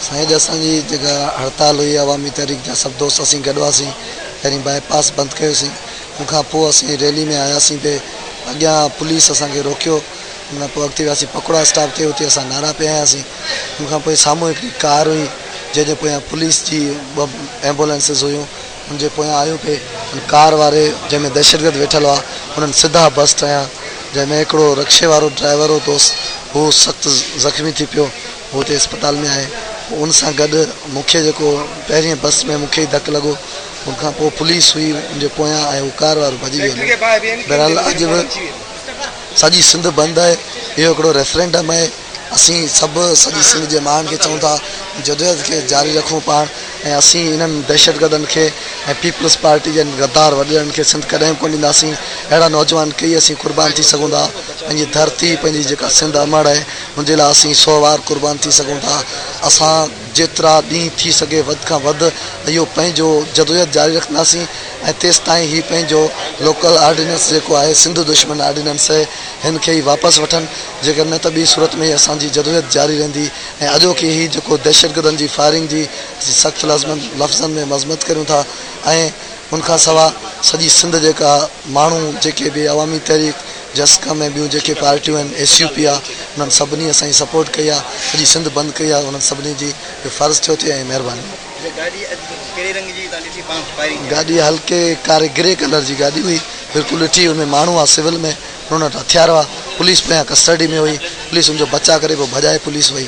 سائين اڄ اسان جي جيڪا هڙتال هئي عوامي تحريڪ جا سڀ دوست اسين گڏ هئاسين پهرين باء پاس بند ڪيوسين ان کان پوء اسين ريلي ۾ آياسين تي اڳيان پوليس اسان کي روڪيو ان کان پوء اڳتي وياسين پڪوڙا اسٽاپ تي اتي اسان نعرا پي هنياسين ان کان پوء سامهون هڪڙي ڪار هئي جنهن جي پويان پوليس جي ٻه ايمبولينسز هيون ان جي پويان آيو پئي ۽ ڪار واري جنهن ۾ دهشتگرد ويٺل هئا انهن سڌا بسٽ هنيا جنهن ۾ هڪڙو رڪشي وارو ڊرائيور هو توس هو سخت زخمي ٿي پيو هو هتي اسپتال ۾ آهي ان سان گڏ مون کي جيڪو پهرين بس ۾ مون کي ئي ڌڪ لڳو ان کان پوء پوليس هئي ان جي پويان ۽ هو ڪار وارو ڀڄي ويو بهرحال اڄ به سڄي سنڌ بند آهي اهو هڪڙو ريفرنڊم آهي اسين سڀ سڄي سنڌ جي ماڻهن کي چئون ٿا جدوجهد کي جاري رکون پاڻ ۽ اسين انهن دهشتگردن کي ۽ پيپلز پارٽي جن غدار وڏيرن کي سنڌ ڪڏهن به ڪونه ڏينداسين اهڙا نوجوان ڪيئي اسين قربان ٿي سگهون ٿا پنهنجي ڌرتي پنهنجي جيڪا سنڌ امڙ اهي ان جي لاء اسين سو وار قربان ٿي سگهون ٿا اسان جيترا ڏينهن ٿي سگهي وڌ کان وڌ اهو پنهنجو جدوجهد جاري رکنداسين ۽ تيستائين هي پنهنجو لوڪل آرڊيننس جيڪو آهي سنڌ دشمن آرڊيننس اهي هن کي ئي واپس وٺن جيڪڏهن نه ته ٻي صورت ۾ هي اسان جي جدوجهد جاري رهندي ۽ اڄوڪي هي جيڪو دهشتگردن جي فائرنگ جي اسين سخت لفظن ۾ مذمت ڪريون ٿا ۽ ان کان سوا سڄي سنڌ جيڪا ماڻهو جيڪي به عوامي تحريڪ جسقم ۽ ٻيون جيڪي پارٽيون آهن ايس يو پي آ انهن سڀني اسان جي سپورٽ ڪئي آ سڄي سنڌ بند ڪئي آ انهن سڀني جي اهو فرض ٿيو ٿي ۽ مهرباني. گاڏي هلڪي ڪاري گري ڪلر جي گاڏي هئي بلڪل ڏٺي ان ۾ ماڻهو آ سول ۾. هنن وٽ هٿيار هئا. پوليس پويان ڪسٽرڊي ۾ هئي. پوليس هن جو بچاء ڪري پوء ڀڄائي پوليس وئي.